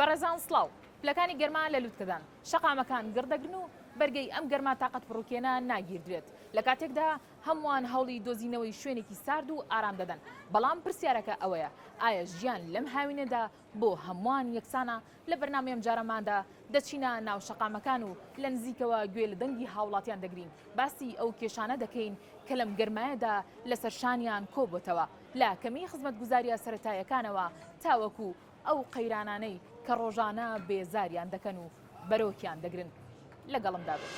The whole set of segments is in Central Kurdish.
بەڕێزان سڵاو. پلەکانی گەرما لە لوتکەدان. شەقامەکان گڕ دەگرن و بەرگەی ئەم گەرما تاقەت پڕوکێنە ناگیردرێت. لە کاتێکدا هەمووان هەوڵی دۆزینەوەی شوێنێکی سارد و ئارام دەدەن. بەڵام پرسیارەکە ئەوەیە ئایا ژیان لەم هاوینەدا بۆ هەمووان یەکسانە لە بەرنامەی ئەمجارەماندا دەچینە ناو شەقامەکان و لە نزیکەوە گوێ لە دەنگی هاوڵاتیان دەگرین باسی ئەو کێشانە دەکەین کە لەم گەرمایەدا لەسەر شانیان کۆبووتەوە لە کەمی خزمەتگوزاریە سەرەتایەکانەوە تاوەکو ئەو قەیرانانەی کە ڕۆژانە بێزاریان دەکەن و بەرۆکیان دەگرن. لەگەڵمدا بن.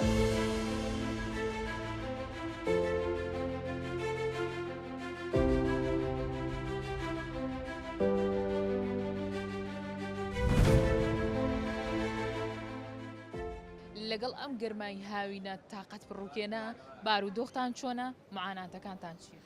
لەگەڵ ئەم گەرمای هاوینە تاقەت پڕوکێنە بارودۆختان چۆنە معاناتەکانتان چیە؟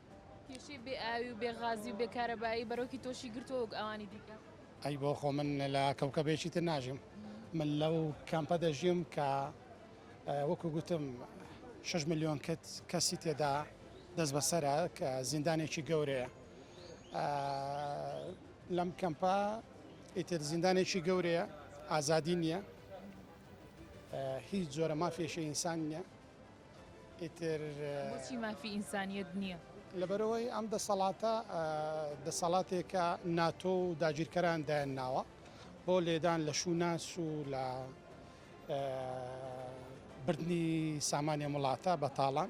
کێشەی بێ ئاوی و بێ غازی و بێ کارەبایی بەرۆکی تۆشی گرتووە وەک ئەوانی دیکە؟ ئەی بۆ خۆ من لە کەوکەبێکی تر ناژیم من لەو کەمپە دەژیم کە وەکو گوتم 6 ملیۆن کت کەسی تێدا دەست بەسەرە کە زیندانێکی گەورەیە لەم کەمپە ئیتر زیندانێکی گەورەیە ئازادی نییە هیچ جۆرە مافێشە ئینسان نیە بۆچی مافی ئینسانییەت نییە؟ لەبەرئەوەی ئەم دەسەڵاتە دەسەڵاتێکە ناتۆ و داگیرکەران دایانناوە بۆ لێدان لە شووناس و لە بردنی سامانی ئەم وڵاتە بە تاڵان.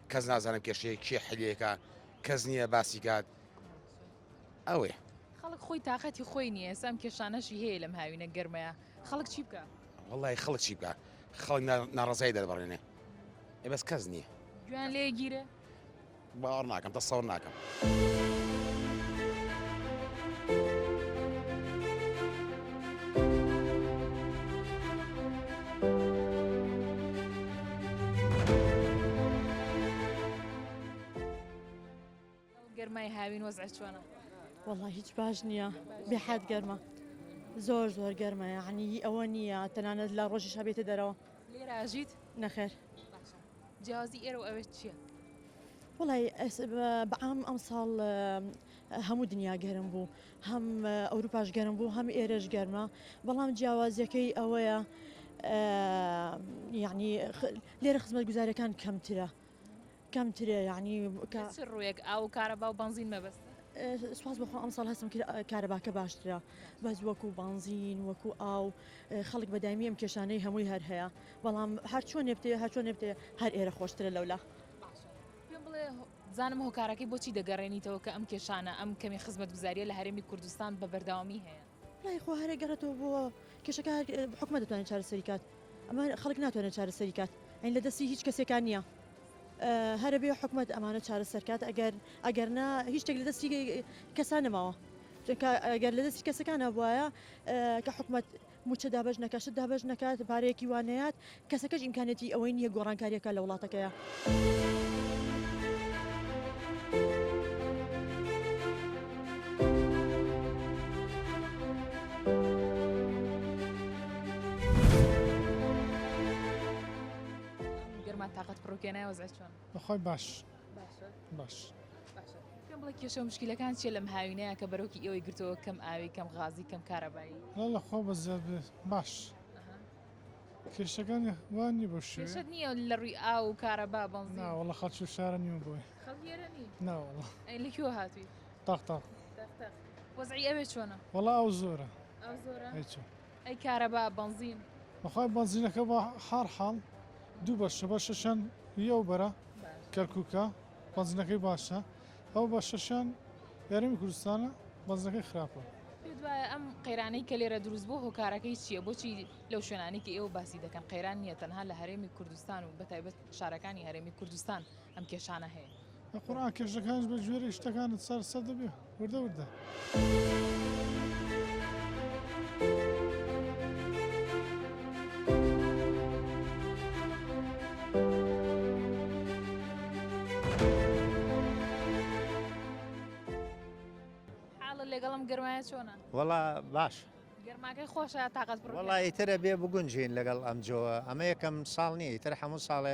کەس نازانم کێشەیە کێ حلیەکە کەس نییە باسی کات ئەوێ خەڵک خۆی تااقەتی خۆی نییە سام کێشانەشی هەیە لەم هاوینە گەرمەیە خەڵک چی بکە وڵی خەڵک چی بکە خەڵک ناڕزای دەربڕێنێ ئێ بەس کەس نییە گویان لێگیرە باوەڕ ناکەم دەسەوە ناکەم گەرمای هاوین وەزع چۆنە والله هیچ باش نییە بێحات گەرمە زۆر زۆر گەرمە یعنی ئەوە نییە تەنانەت لە ڕۆژی شەبێتە دەرەوە لێراژیت نەخێر جیاوازی ئێرە و ئەوێ چیە؟ وەڵای بەعام ئەمساڵ هەموو دنیا گەرم بوو هەم ئەوروپاش گەرم بوو هەم ئێرەش گەرمە بەڵام جیاوازیەکەی ئەوەیە یعنی لێرە خزمەت گوزارەکان کەمترە کەمترە یعنی ڕوویەک ئاو کارە باو بنزین مەبەست سوپاس بەخۆ ئەمساڵ هەستم کارەباکە باشترە بەس وەکو بانزین وەکو ئاو خەڵک بەدایمی ئەم کێشانەی هەمووی هەر هەیە بەڵام هەر چۆنێ بتەوێ هەر چۆنێ بتەوێ هەر ئێرە خۆشترە لەولا پێم بڵێ زانم هۆکارەکەی بۆچی دەگەڕێنیتەوە کە ئەم کێشانە ئەم کەمی خزمەت گوزاریە لە هەرێمی کوردستان بە بەرداوامی هەیە لای خۆ هەرێ گەڕێتەوە بۆ کێشەکە حکومە دەتوانێت چارەسەری کات ئەمە خەڵک ناتوانێت چارەسەری کات ئەین لە دەستی هیچ کەسێکان نییە هەرە بێ حکومت ئەمانە چارە سەرکات ئەگەر ئەگەر نا هیچ شتێک لە دەستی کەسان نەماوە ئەگەر لە دەستی کەسەکانە وایە کە حکومت مووچە دابەش نەکات، شت دابەش نەکات، پارەیەکی وا نەیات، کەسەکەش ئیمکانیەتی ئەوەی نییە گۆڕانکارییەک بکات لە وڵاتەکەیا. باشە باش باشە پێم بڵێ کێشە و مشکلەکان چیە لەم هاوینەیە کە بەرۆکی ئێوەی گرتەوە کەم ئاوی کەم غازی کەم کارەبایی واللە خوا بە زیاد بێ باش کێشەکان وان نیە بە شوێ کێشەت نییە لە ڕووی ئاو و کارەبا بەنزین ناوەڵە خەڵکی و شارە نیمە بۆی خەڵکی ئێرە نی ناوەڵە ئەی لە کوێوە هاتووی تاق تاق تەق تەق وەزعی ئەوێ چۆنە وەڵا ئەو زۆرە ئەو زۆرە هەی چۆن ئەی کارەبا بەنزین. بەخوای بەنزینەکە بە حار حاڵ دوو بەشە بەشەشیان ی ئەو بەرە کەرکوکە بەنزینەکەی باشە ئەو بەشەشیان ئێرەمی کوردستانە بەنزینەکەی خراپە. پێت وایە ئەم قەیرانەی کە لێرە دروست بووە هۆکارەکەی چییە؟ بۆچی لەو شوێنانەی کە ئێوە باسی دەکەن قەیران نییە تەنها لە هەرێمی کوردستان و بەتایبەت شارەکانی هەرێمی کوردستان ئەم کێشانە هەیە. بە قورعان کێشەکانیش بە گوێرەی شتەکانت چارەسەر دەبێ وردە وردە. لەگەڵم گەرمایە چۆنە وڵا باش گەرماکەی خۆشە تااقەت وڵی ترە بێ بگونجین لەگەڵ ئەمجۆوە ئەمە یەکەم ساڵ نیە تر هەموو ساڵێ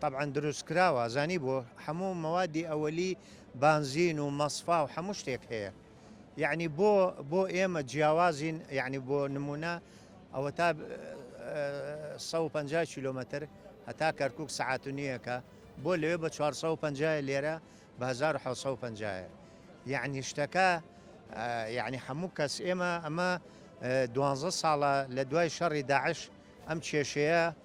تەبعەن دروست کراوە زانی بۆ هەموو مەوادی ئەوەلی بانزین و مەسفا و هەموو شتێک هەیە یعنی بۆ بۆ ئێمە جیاوازین یعنی بۆ نمونە ئەوە تا 150 کیلومتر هەتا کەرکک سعات و نییەکە بۆ لەوێ بە 450 لێرە بە 1950 یعنی شتەکە یعنی هەموو کەس ئێمە ئەمە دوانزە ساڵە لە دوای شەڕی داعش ئەم کێشەیە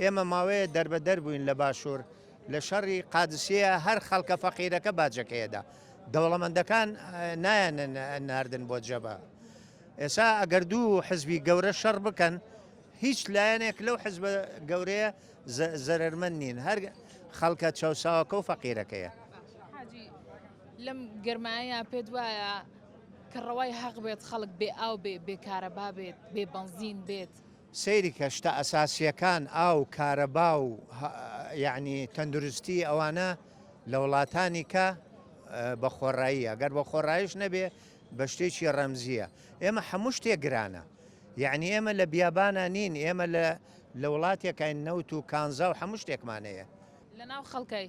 ئێمە ماوەیە دەربەدەر بووین لە باشوور لە شەڕی قادسیە هەر خەڵکە فەقیرەکە باجەکەیەدا دەوڵەمەندەکان نایەن ناردن بۆ جەبە ئێسا ئەگەر دوو حزبی گەورە شەڕ بکەن هیچ لایەنێک لەو حزب گەورەیە زەرمەند نین هەر خەڵکە چاوساوەکە و فەقیرەکەیە لەم گەرمایە پێت وایە کە ڕەوای هەق بێت خەڵک بێ ئاو بێ بێکارەبا بێت بێ بەنزین بێت سەیرکە شتە ئەساسیەکان ئاو کارەبا و یەعنی تەندروستی ئەوانە لە وڵاتانی کە بە خۆڕاییە گەر بە خۆڕایش نەبێ بە شتێکی ڕەمزیە ئێمە هەموو شتێ گرانە یعنی ئێمە لە بیابانە نین ئێمە لە لە وڵاتێکین نەوت و کانزا و هەموو شتێکمانەیە لە ناو خەڵکەی.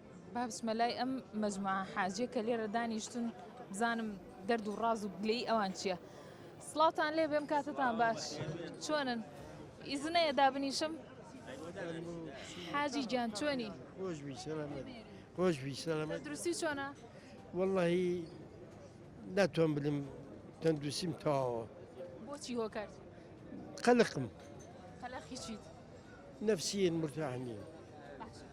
با بچمە لای ئەم مەجموعە حاجیە کە لێرە دانیشتن بزانم دەرد و ڕاز و گلەی ئەوان چییە سڵاوتان لێ بێم کاتتان باش چۆنن ئیزنەیە دابنیشم حاجی گیان چۆنی خۆش دروستی چۆنا واللهی ناتوان بلم تەندروسیم تەواوە بۆچی هۆ کرد قەلقم قەلقی چیت نفسیین مرتاح نیە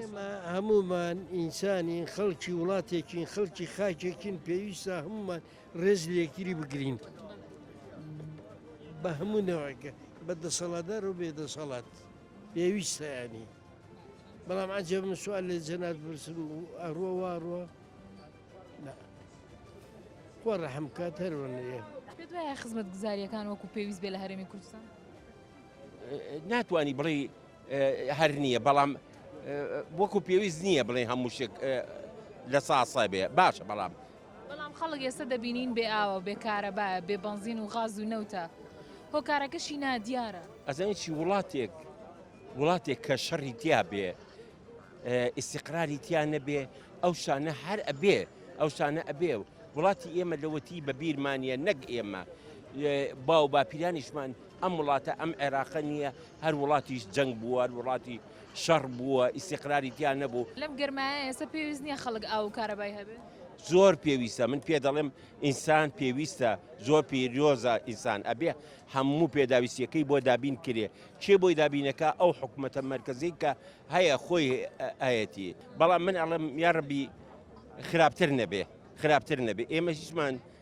ئێمە هەموومان ئینسانین، خەڵکی وڵاتێکین، خەڵکی خاکێکین، پێویستە هەموومان ڕێز لە یەکتری بگرین بە هەموو نەوەکە بە دەسەڵاتدار و بێ دەسەڵات پێویستیانی بەڵام عجب من سوال لە جەنات برسم و ئەڕوە واڕوە خۆ ڕەحم کات هەروەنەیە خزمەت گوزاریەکان وەکو پێویست بێ لە هەرێمی کوردستان ناتوانی بڵێی هەر نییە بەڵام وەکو پێویست نییە بڵێ هەموو شک لە ساسە بێ باشە بەڵام بەڵام خەڵک ئێستا دەبینین بێ ئاوە بێ کارەبا بێ بەنزین و غاز و نەوتە هۆکارەکەشی نادیارە ئەزانی چی وڵاتێک وڵاتێک کە شەڕی تیا بێ ئیسیقراری تیا نەبێ ئەو شانە هەر ئەبێ ئەو شانە ئەبێ و وڵاتی ئێمە لەوەتی بە بیرمانە نەک ئێمە باو باپیرانیشمان ئەم وڵاتە ئەم عێراقە نییە، هەر وڵاتی جەنگ بووە، هەر وڵاتی شەڕ بووە، ئیستیقراری تیا نەبوو. لەم گەرمایە ئێستا پێویست نییە خەڵک ئاو و کارەبای هەبێ؟ زۆر پێویستە، من پێ دەڵێم ئینسان پێویستە، زۆر پیرۆزە ئینسان، ئەبێ هەموو پێداویستییەکەی بۆ دابین کرێ، کێ بۆی دابین ئەکا، ئەو حکومەتە مەرکەزیەی کە هەیە خۆی ئەیەتی، بەڵام من ئەڵێم یارەبی خراپتر نەبێ، خراپتر نەبێ، ئێمە هیچمان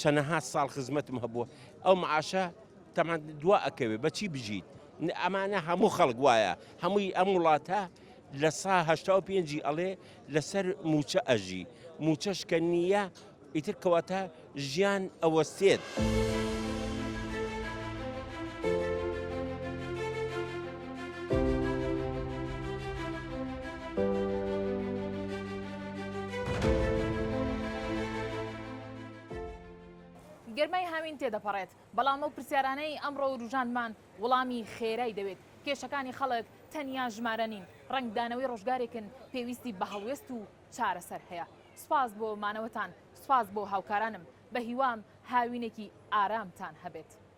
چەنەها ساڵ خزمەتم هەبووە ئەو معاشە تەمان دوا ئەکەوێت بەچی بژیت ئەمانە هەموو خەڵک وایە هەمووی ئەم وڵاتە لە سا هەشتا و پێنجی ئەڵێ لەسەر موچە ئەژی موچەش کە نییە ئیتر کەواتە ژیان ئەوەستێت. گەرمای هاوین تێدەپەڕێت، بەڵام ئەو پرسیارانەی ئەمڕۆ وروژاندمان وڵامی خێرای دەوێت، کێشەکانی خەڵک تەنیا ژمارە نین، ڕەنگدانەوەی ڕۆژگارێکن پێویستی بە هەڵوێست و چارەسەر هەیە. سوپاس بۆ مانەوەتان، سوپاس بۆ هاوکارانم، بەهیوام هاوینێکی ئارامتان هەبێت.